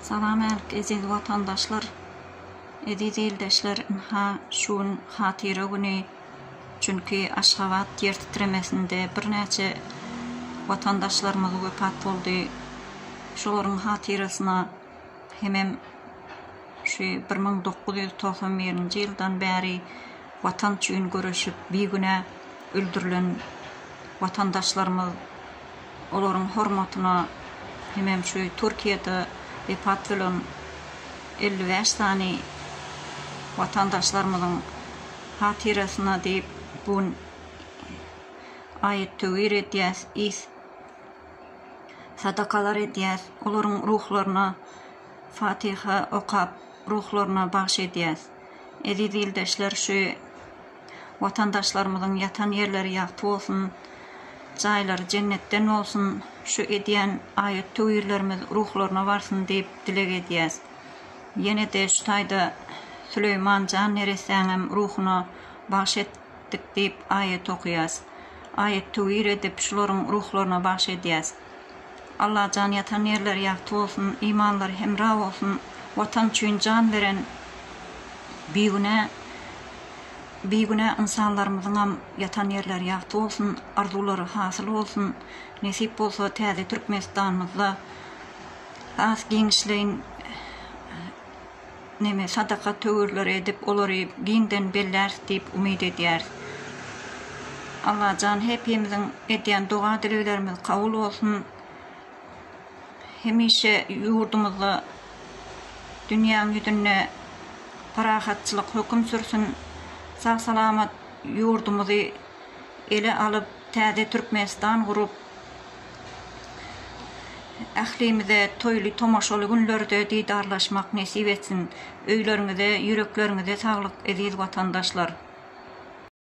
Salam ärik eziz watandaşlar, eziz ildeşler ynha şu gün hatyra güni çünki Aşgabat ýer titremesinde birnäçe watandaşlarymyz wepat boldy şolaryň hatyrasyna hemem şu bir müň dokuz ýüz togsan birinji ýyldan bäri watan üçin göreşip bigünä öldürilen watandaşlarymyz olaryň hormatyna hemem şu Türkiýede wepat bolan elli bäş sany watandaşlarymyzyň hatyrasyna diýip bu gün aýat-töwir edýäs, is sadakalar edýäs, olaryň ruhlaryna Fatiha okap, ruhlaryna bagş edýäs. Eziz ildeşler, şu. Watandaşlarymyzyň ýatan ýerleri ýagty bolsun, jaýlary jennetden bolsun, şu edýän aýat-töwirlerimiz ruhlaryna barsyn diýip dileg edýäs. Ýene-de şu taýda Süleýman jan neressäňem ruhuna bagş etdik diýip aýat okaýas. Aýat-töwir edip şularyň ruhlaryna bagş edýäs. Allajan ýatan ýerleri ýagty bolsun imanlary hemra bolsun watan üçin jan beren bigünä bigünä ynsanlarymyzyňam ýatan ýerleri ýagty bolsun arzuwlary hasyl bolsun nesip bolsa täze türkmenistanymyzda has giňişleýin neme, sadaka töwirleri edip, olary giňden belläris diýip umyt edýäris. Allajan hepimiziň edýän doga-dileglerimiz kabul bolsun. Hemişe ýurdumyzda, dünýäň ýüzünde parahatçylyk höküm sürsün. Sag-salamat ýurdumyzy ele alyp, täze Türkmenistan gurup, Ählimize toýly tomaşaly günlerde didarlaşmak nesip etsin! Öýleriňize, ýürekleriňize saglyk, eziz watandaşlar!